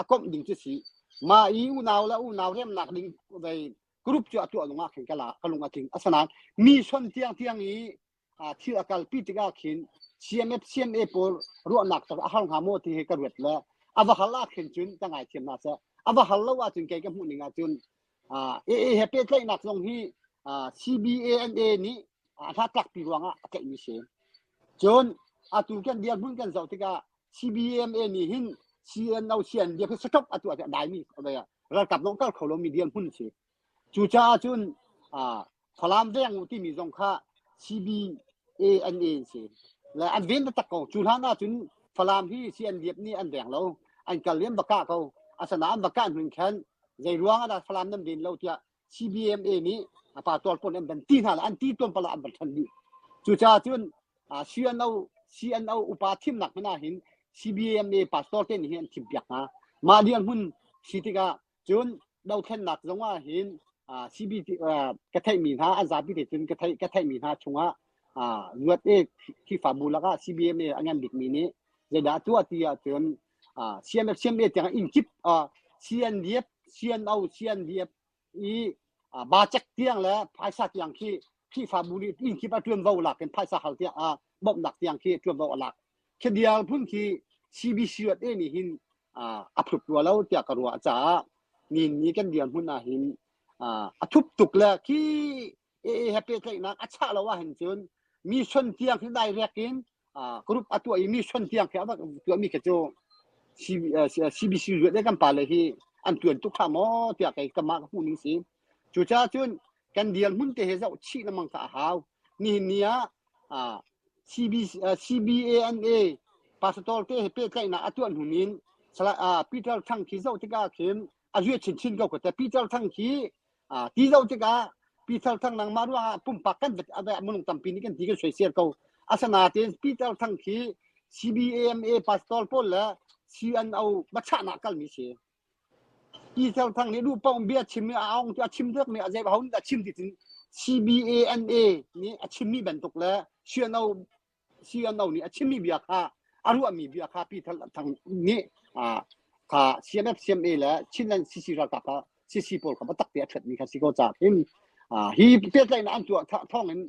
a komh ding cu si ma i unau le unau remnak ding dei group cu a tuah nungah khin kala ka lung a tling asanain mi son tiang tiang i thil a kalpi tikah khin CMF CMA pawl ruahnak tar a har hnga maw ti he ka ruat le a va hal ah khin cun ka ngai thiam na sa a va hal lo ah cun kei ka hmuh ning ah cun AA he pehtlaihnak zong hi CBANA nih a hnatlakpi ruangah a tlaihmi si. Cun atu kan dirhmun kan zoh tikah CBMA nih hin CNO CNDF hi stop atu ah daimi ralkap nong kal kho lomi dirhmun si. Cucaah cun Falam deng uh timi zong kha CBA an e an si le an ven taktak ko cu hlan ahcun Falam hi si an liap nih an veng lo an kal liam baka ko asana an baka nun khan zei ruang ada Falam nam ven lo tiah CBMA nih apa tual pon an ban ti hna la an ti tuan pala an ban than ni cu cha cun CNO CNO upa thim nak hmena hin CBMA pastor te ni hi an thim piak hna ma ni an hun si tikah cun dothlennak zong ah hin CBC ka theihmi hna an zapi te cun ka theih ka theihmi hna chungah luat e khifabu lakah CBMA a ngan bikmi nih zeidah tuah ti ahcun CMF CMA tiang in kip CNDF CNO CNDF i bacek tiang le phaisa tiang khi khifabu nih in kip a tuanvo lak in phaisa hal tiang bawmhnak tiang khi tuanvo a lak khi dial phun khi CBC rat e nih hin a thut rua lo tiah ka ruah caah ni kan dirhmun ah hin a thup tuk le khi ee he pehtlaihnak a chah lo ah hin cun mission tiang hi dai rek in group a tuah i mission tiang khi a rak tuahmi khi cu CBC zuat kan pa le hi an tuan tuk ṭha maw tiah kei ka mah ka hmuh ning si Cucaah cun kan dirhmun te he zoh chih lengmang kha a hau. Nihin ni ah CBANA pastor te he pehtlaihnak a tuah hnunin Peter Thang khi zoh tikah khin a zuet chinchin ko ka te. Peter Thang khi ti zoh tikah Peter Thang nang mah ruangah pumpak kan vet minung tampi nih kan ti kan soisel ko. Asanain Peter Thang khi CBAMA pastor pawl le CNO machahnak kalmi si. Hi Thio Thang nih duh paoh bia a chim i a aung a chim dek mi a zei ho nih dah chim ti cun CBANA nih a chimmi bantuk le CNO CNO nih a chimmi bia kha a ruahmi bia kha Pi Thang Thang nih kha CNFCMA le Chinland CC ralkap kha CC pawl kha biatak te a ṭhuatmi kha si ko ca hin hi pehtlaihnak an tuah thawng in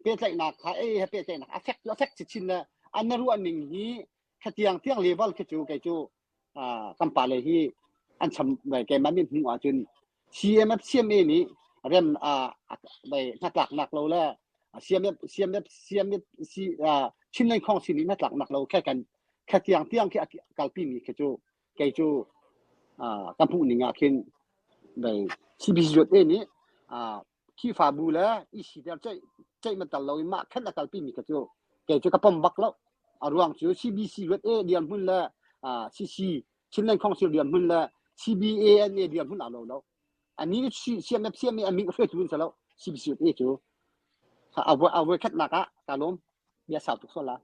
pehtlaihnak kha ei he pehtlaihnak a fek a fek chin le an na ruahning hi khatiang tiang level khi cu kei cu kan pale hi an cham keimah mit hmuh ahcun CMF CMA nih rem hnatlaknak lo le CMF CMF CMF Chinland Council nih hnatlaknak lo khe kan khe tiang tiang khi kalpi mi khi cu kei cu kan hmuh ning ah khin CBC nih Khrihfabu le i siter ceih ceih matal lo in mah khan a kalpimi ka cu kei cu ka pom bak lo a ruang cu CBC ruat e dirhmun le CC Chinland Council dirhmun le CBANA dirhmun a lo lo ani CMF CMA aming hre tu sa lo CBC ruat e cu a voi khat nak ah ka lom bia sau tuk so la